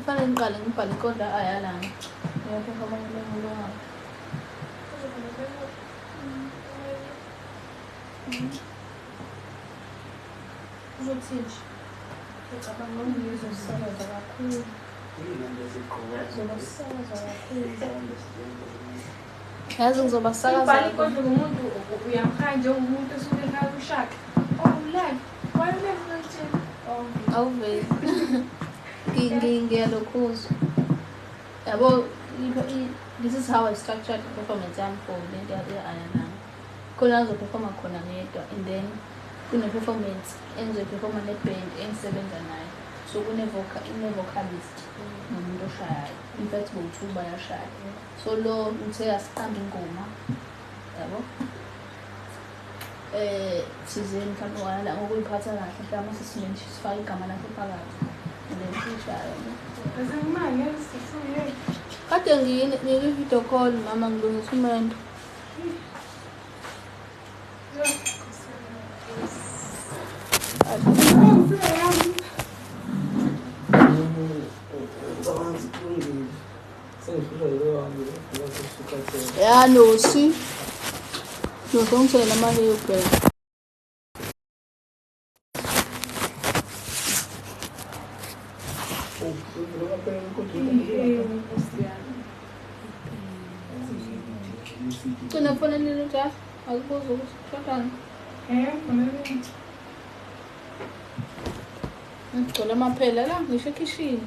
Kufanele ngiqale ngibhale ikonda ayalana. Ngiyaphi abanye bengiloha. Uzothini nje? Ngicabanga ngizwe sisebenza kakhulu. Ngizwe sisebenza kakhulu. Yazi ngizoba sakaza. Ubhali kodwa umuntu uyamkhaya njengomuntu osuke ekhaya kushaka. Oh ulali. Why you never mention? Oh. Awuveli. Ngiyalokhuzwa. Yabo this is how I structured the performance yami for le nto ye-aya nami. Khona ngizoperforma khona ngedwa and then kune-performance engizoyiperforma ne-band engisebenza nayo. So kune-vocalist mm. nomuntu oshayayo. In fact bowu-two bayashaya. so lo uthe asiqambe ingoma yabo eh sizeni mhlawumbe wala ngokuyiphatha kahle mhlawumbe sesisimeni sifake igama lakhe phakathi nensishayo kade ngiyini ngikwi-video call mama ngilungisa umendo Thank you. Ya nosi. Nokonsela manje yobheka. Cina phone nini cha? Akubuza ukuthi shotana. Eh, phone nini? Ngigcwele amaphela la ngisho ekhishini.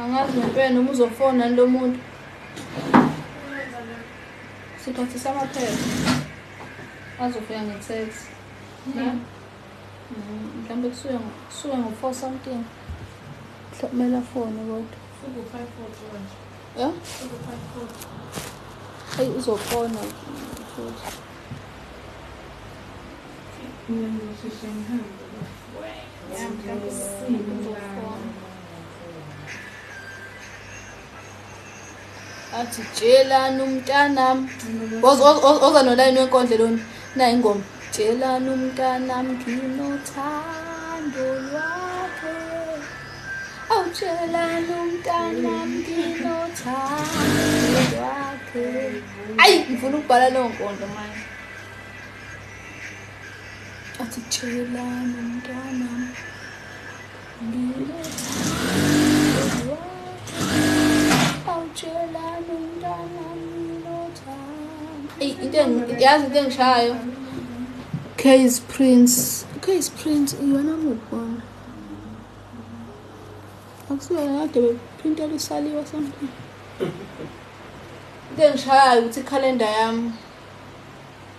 angazi ngempela noma uzofona lo muntu siphathisa amaphepha azofika nge-tax mm-hmm. mhlawumbe kusuke ngo-four something kumele afone kodwa ya eyi uzofona futhi athi tshelani umntanam oza nolayini wenkondle lona nayo ingoma tshelani umntanam nginothando lwakhe awutshelani umntanam nginothando lwakhe ayi ngifuna ukubhala leyo nkondlo manje Atitshelani mntwana awutshelani mntwana yazi into engishayo case prince case prince iyona mukwana akusiyona kade bephintela isaliwa something into engishayayo ukuthi ikhalenda yami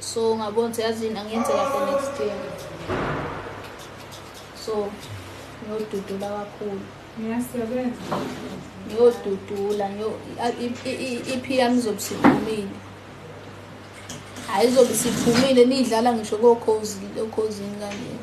so ngabona ukuthi yazini angiyenze kahle next year so ngiyodudula kakhulu ngiyodudula iphi yami izobe siphumile hhayi izobe siphumile niyidlala ngisho kokhozini kanjena